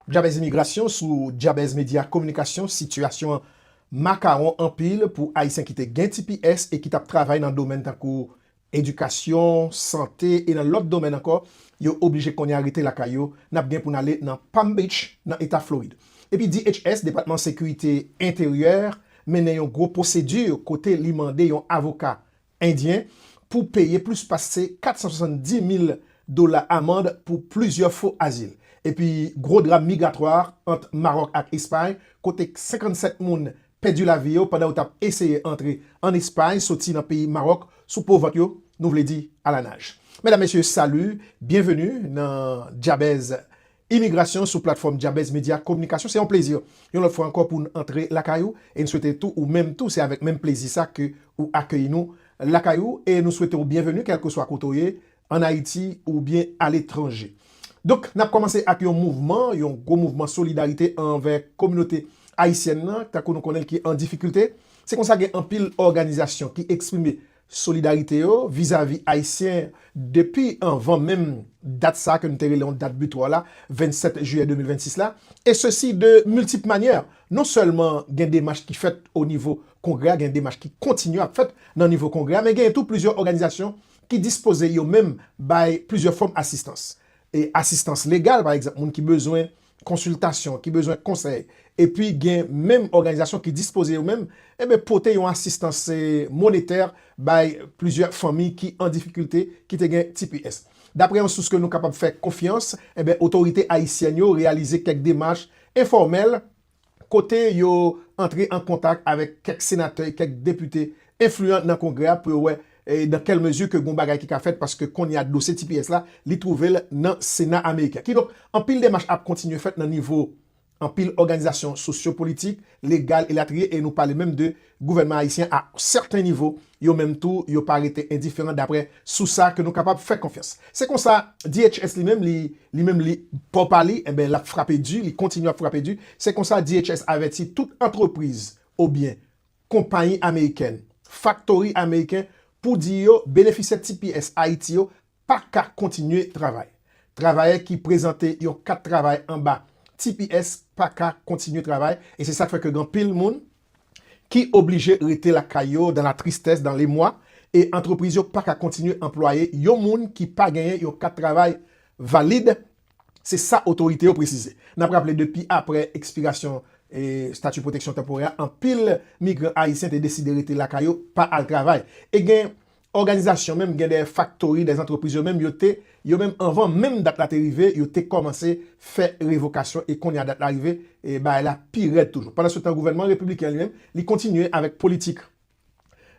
Djabèz imigrasyon sou Djabèz Medya Kominikasyon Sitiyasyon an makawon anpil pou Ayisyen ki te gen tps e ki t ap travay nan domèn tankou edikasyon, sante e nan lòt domèn ankò yo oblije kounye a rete lakay yo N ap gen pou n ale nan Palm Beach nan Eta Florid epi DHS, Depatman Sekirite Enteryè, mennen yon gwo pwosedi kote li mande yon avoka Endyen pou peye plis pase 470 mil dola amand pou plizyè fo azil. Epi gwo dram migratwa ant Maròk ak Espay kote 57 moun pèdi lavi yo pandan yo t ap eseye antre ann Espay soti nan peyi Maròk sou po vant yo, nou vle di alanaj. Medam mesye salut, byenveni nan Djabèz Imigrasyon sou platfòm Dyabèz Medya Kominikasyon se yon plezi yon lòt fwa ankò pou n antre lakay ou e n swete tou ou menm tou se avèk menm plezi sa ke ou akeyi nou lakay ou e nou swete w byenveni kèlkeswa kote w ye an Ayiti oubyen aletranje. Donk n ap kòmanse ak yon mouvman, yon gwo mouvman solidarite anvè kominote ayisyèn nan tankou nou konnen l ki an difikilte. Se konsa gen anpil òganizasyon ki eksprime Solidarite yo vizavi Ayisyen depi anvan menm dat sa ke nou te rele yon dat butwa la, 27 jiyè 2026 la, e sesi de miltip manyè. Non sèlman gen demach ki fèt o nivo Kongrè a, gen demach ki kontinye ap fèt nan nivo Kongrè a, men genyen tou plizyè òganizasyon ki dispoze yo menm bay plizyè fòm asistans. E asistans legal, pa egzanp, moun ki bezwen konsiltasyon, ki bezwen konsèy, epi gen menm òganizasyon ki dispoze yo menm enben pote yon asistans monetè bay plizyè fanmi ki an difikilte ki te gen tps. Daprè yon sous ke nou kapab fè konfyans, enben otorite ayisyèn yo reyalize kèk demach enfòmèl kote yo antre an kontak avèk kèk senatè e kèk depite enfliyan nan Kongrè a pou yo wè dan kèl mezi ke gon bagay ki ka fèt paske kounye a dosye tps la li twouve l nan Sena ameriken. Kidonk, anpil demach ap kontinye fèt nan nivo anpil òganizasyon sosyo-politik, legal elatriye e nou pale menm de Gouvènman ayisyen a sèten nivo, yo menm tou yo pa rete endiferan daprè sous sa ke nou kapab fè konfyans. Se konsa, DHS li menm li, li menm li, bò pa li, enben l ap frape di, li kontinye ap frape di. Se konsa DHS avèti tout antrepriz obyen konpayi amerikèn, faktori ameriken pou di yo benefisyè tps Ayiti yo pa ka kontinye travay. Travayè ki prezante yon kat travay anba tps pa ka kontinye travay e se sa k fè ke gen anpil moun ki oblije rete lakay yo dan la tristès, dan lemwa e antrepriz yo pa ka kontinye anplwaye yon moun ki pa genyen yon kat travay valid, se sa otorite yo presize. N ap raple depi apre ekspirasyon stati pwoteksyon tanporè a, anpil migran ayisyen te deside rete lakay yo pa al travay e gen òganizasyon menm gen dèyè faktori dèyè antrepriz yo menm yo te yo menm anvan menm dat la te rive yo te kòmanse fè revokasyon e kounye a dat la rive bagay la pi rèd toujou pandan se tan gouvènman repibliken an li menm li kontinye avèk politik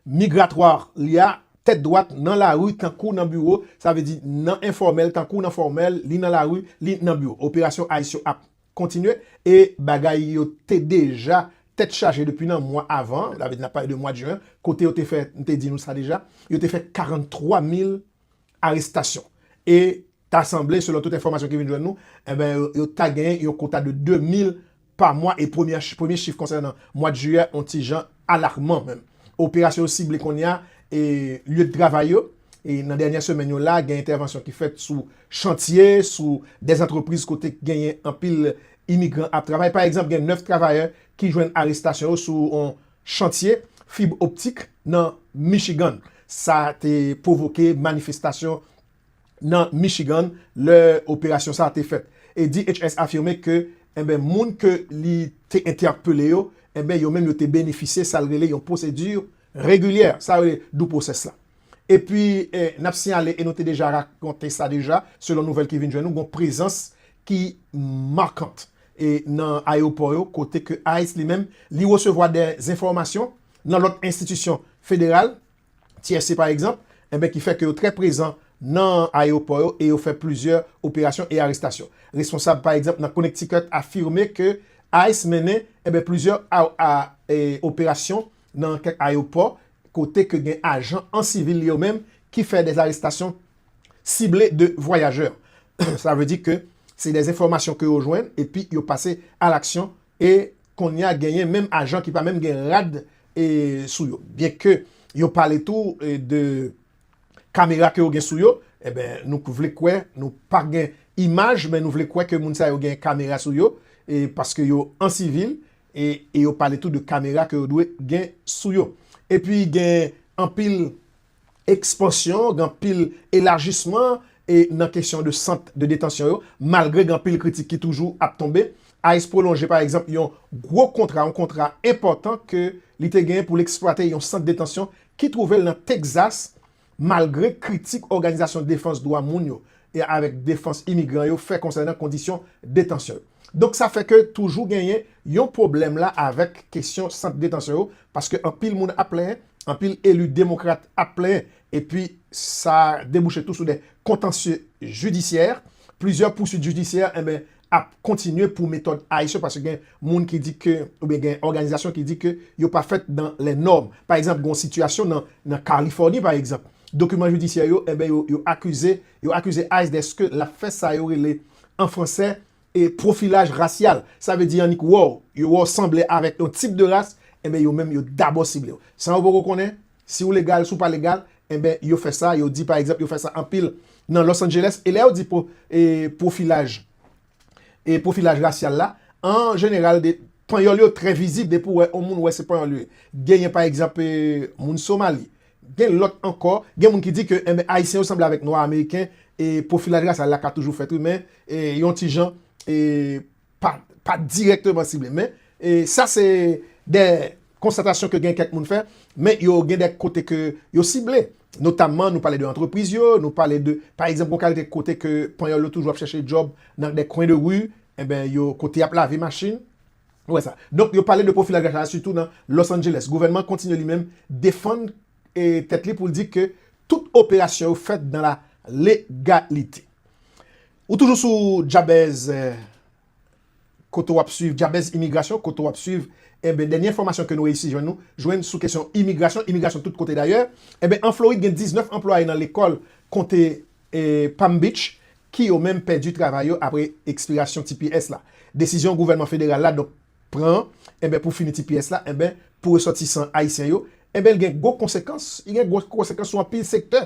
migratwa li a tèt dwat nan lari tankou nan biwo sa vle di nan enfòmèl tankou nan fòmèl li nan lari li nan biwo operasyon ice yo ap. kontinye e bagay yo te deja tèt chaje depi nan mwa avan an, sa vle di n ap pale de mwad jen an, kote yo te fè, m te di nou sa deja, yo te fè 43 mil arestasyon. E ta sanble, selon tout enfòmasyon ki vin jwenn nou, enben yo ta genyen yon kota de 2 mil pa mwa e premye chif konsènan mwad jiyè on ti jan Alakman menm. Operasyon yo sible kounye a lye de travay yo. Nan dènyè semèn yo la, gen entèvansyon ki fèt sou chantye, sou de antrepriz kote ki genyen anpil imigran ap travay. Pa egzanp, gen 9 travayè ki jwenn arestasyon yo sou yon chantye fib optik nan Michigan. Sa te pwovoke manifestasyon nan Michigan lè operasyon sa a te fèt. E DHS afime ke enben moun ke li te entèpele yo, enben yo menm yo te benefisye sa l rele yon pwosedi regilyè, sa yo rele due process la. Epi n ap siyale e nou te deja rakonte sa deja, selon nouvèl ki vin jwenn nou, gon prezans ki markant e nan ayewopò yo kote ke ice li menm li resevwa dè zenfòmasyon nan lòt enstitisyon federal, TSC pa egzanp, enben ki fè ke yo trè prezan nan ayewopò yo e yo fè plizyè operasyon e arestasyon. Responsab pa egzanp nan Connecticut afime ke ice mennen enben plizyè operasyon nan kèk ayewopò kote ke gen ajan an sivil yo menm ki fè dè arestasyon sible de vwayajè. Sa vle di ke se dè enfòmasyon ke yo jwenn epi yo pase alaksyon E konnya genyen menm ajan ki pa menm gen rad sou yo. Byen ke yo pale tou de kamera ke yo gen sou yo, enben nou vle kwè, nou pa gen imaj, men nou vle kwè ke moun sa yo gen kamera sou yo, paske yo an sivil, e yo pale tou de kamera ke yo dwe gen sou yo. E pi gen anpil ekspansyon, gen anpil elajisman e nan kesyon de sant de detansyon yo, malgre gen anpil kritik ki toujou ap tonbe. Ice pwolonje pa egzanp yon gwo kontra, yon kontra enpòtan ke li te genyen pou l eksplwate yon sant detansyon ki twouve l nan Texas, malgre kritik òganizasyon defans dwa moun yo e avèk defans imigran yo fè konsènan kondisyon detansyon yo. Donk sa fè ke toujou genyen yon pwoblèm la avèk kesyon sant detansyon yo, paske anpil moun ap plenyen, anpil eli demokrat ap plenyen, epi sa debouche tou sou de kontansye jidisyè, plizyè pouswit jidisyè enben ap kontinye pou metòd Ayisyen paske gen moun ki di ke oubyen gen òganizasyon ki di ke yo pa fèt dan lè nòm. Pa egzanp, gen yon sitiyasyon nan Kalifòni pa egzanp, dokiman jidisyè yo enben yo akize yo akize ice deske l ap fè sa yo rele an fransè E pwofilaj rasyal, sa vle di annik wè w, yo wè w sanble avèk yon tip de ras, enben yo menm yo dabò sible w. San yo poko konnen si w legal, si w pa legal, enben yo fè sa, yo di pa egzanp yo fè sa anpil nan Los Angeles. E lè yo di pwo, e pwofilaj, e pwofilaj rasyal la, an jeneral de, panyòl yo trè vizib depi w wè yon moun wè se panyòl yo ye. Genyen pa egzanp e moun Somali, Gen lòt ankò, gen moun ki di ke enben Ayisyen yo sanble avèk Nwa Ameriken e pwofilaj rasyal la ka toujou fèt wi men e yon ti jan e pa pa dirèkteman sible. Men e sa se de konstatasyon ke gen kèk moun fè men yo gen de kote ke yo sible. Notamman nou pale de antrepriz yo, nou pale de pa egzanp gon kalite kote ke Panyòl yo toujou ap chèche djòb nan de kwen de ri enben yo kote y ap lave machin. Nou wè sa. Donk yo pale de pwofilaj rach la sitou nan Los Angeles. Gouvènman an kontinye li menm defann tèt li pou l di ke tout operasyon yo fèt dan la legalite. Ou toujou sou Jabez kote w ap swiv Jabez Imigrasyon kote w ap swiv enben dènye enfòmasyon ke nou reyisi jwenn nou jwenn sou kesyon imigrasyon, imigrasyon tout kote dayè. Enben an Florid gen 19 anplwaye nan lekòl konte Palm Beach ki yo menm pèdi travay yo apre ekspirasyon tps la. Desizyon gouvènman federal la donk pran an enben pou fini tps la enben pou resòtisan ayisyen yo enben li gen gwo konsekans, li gen gwo konsekans sou anpil sektè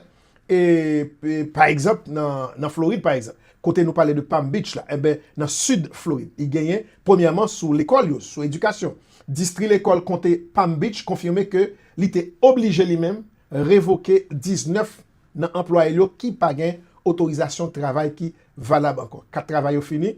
e pa egzanp nan Florid pa egzanp kote nou pale de Palm Beach la enben nan sid Florid li genyen premyèman sou lekòl yo sou edikasyon. Distri lekòl konte Palm Beach konfime ke li te oblije li menm revoke 19 nan anplwaye l yo ki pa gen otorizasyon travay ki valab ankò. Kat travay yo fini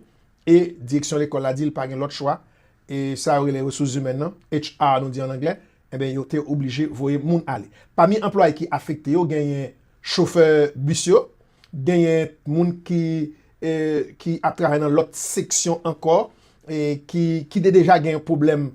e direksyon lekòl la di l pa gen lòt chwa, e sa yo rele resous zimèn nan, HR nou di an anglè, enben yo te oblije voye moun ale. Pami anplwaye ki afekte yo genyen chofè bis yo, genyen moun ki ki ap travay nan lòt seksyon ankò ki te deja gen pwoblèm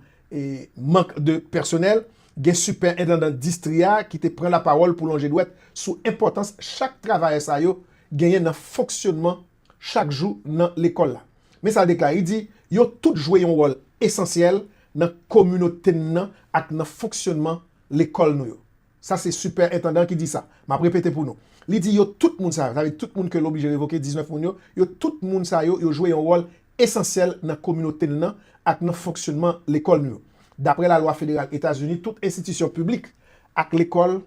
mank de pèsonèl. Gen sipèendandan distri a ki te pran lapawòl pou lonje dwèt sou enpòtans chak travayè sa yo genyen nan fonksyonman chak jou nan lekòl la. Men sa l deklare, li di, Yo tout jwe yon wòl esansyèl nan kominote n nan ak nan fonksyonman lekòl nou yo. Sa se sipèentandan an ki di sa. M ap repete pou nou. Li di yo tout moun sa yo, sa vle di tout moun ke l oblije revoke, 19 moun yo, yo tout moun sa yo, yo jwe yon wòl. esansyèl nan kominote n nan ak nan fonksyonman lekòl nou yo. Dapre lalwa federal Etazini, tout enstitisyon piblik ak lekòl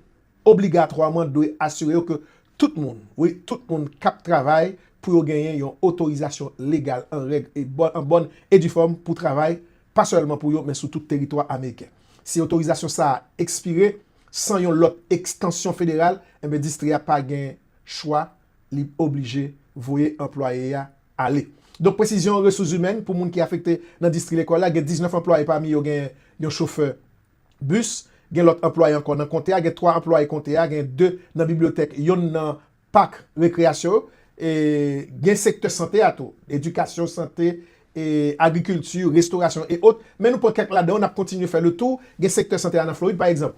obligatwaman dwe asire yo ke tout moun, wi, tout moun k ap travay pou yo genyen yon otorizasyon legal an règ e an bòn e di fòm pou travay, pa sèlman pou yo, men sou tout teritwa ameriken. Si otorizasyon sa a ekspire san yon lòt ekstansyon federal, enben distri a pa gen chwa, li oblije voye anplwaye a ale. Donk presizyon resouzimèn pou moun ki afekte nan distri lekòl la gen 19 anplwaye pami yo gen yon chofè bis, gen lòt anplwaye ankò nan konte a gen 3 anplwaye konte a, gen 2 nan bibliyotèk yonn nan pak rekreyasyon yo e gen sektè sante a tou, edikasyon, sante, agrikilti, restorasyon e ot men nou pran kèk ladan yo n ap kontinye fè le tou gen sektè sante a nan Florid pa egzanp.